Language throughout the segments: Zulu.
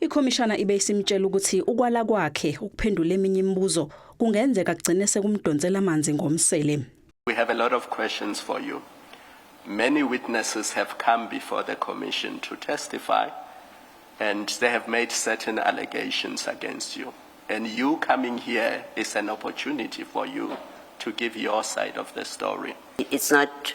Ikhomishana ibe isimtshela ukuthi ukwala kwakhe ukuphendula eminye imibuzo kungenzeka kugcine sekumdonsela amanzi ngomsele. We have a lot of questions for you. Many witnesses have come before the commission to testify and they have made certain allegations against you. And you coming here is an opportunity for you to give your side of the story. It's not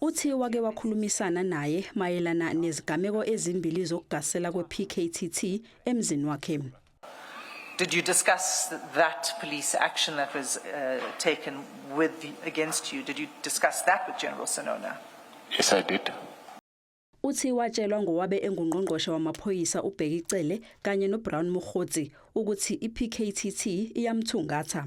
Uthi wake wakhulumisana naye mayelana nezigameko ezimbili zokugasela kwePKTT emzini wakhe. Did you discuss that police action that was uh, taken with the, against you? Did you discuss that with General Sonona? Yes, I did. Uthi watshelwa ngowabe engungqongqoshe wamaphoyisa uBheki Cele kanye noBrown Mokgotsi ukuthi iPKTT iyamthungatha.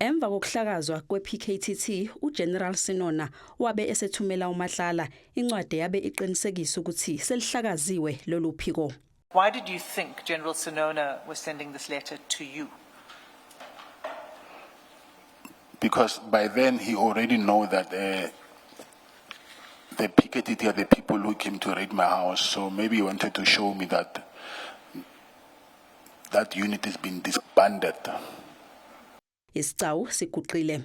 Emva kokuhlakazwa kwePKTT, uGeneral Sinona wabe esethumela uMatlala incwadi yabe iqinisekisa ukuthi selihlakaziwe lolu phiko. Why did you think General Sinona was sending this letter to you? Because by then he already know that uh, the PKTT are the people who came to raid my house, so maybe he wanted to show me that That unit has been disbanded. Isigcawu siguqile.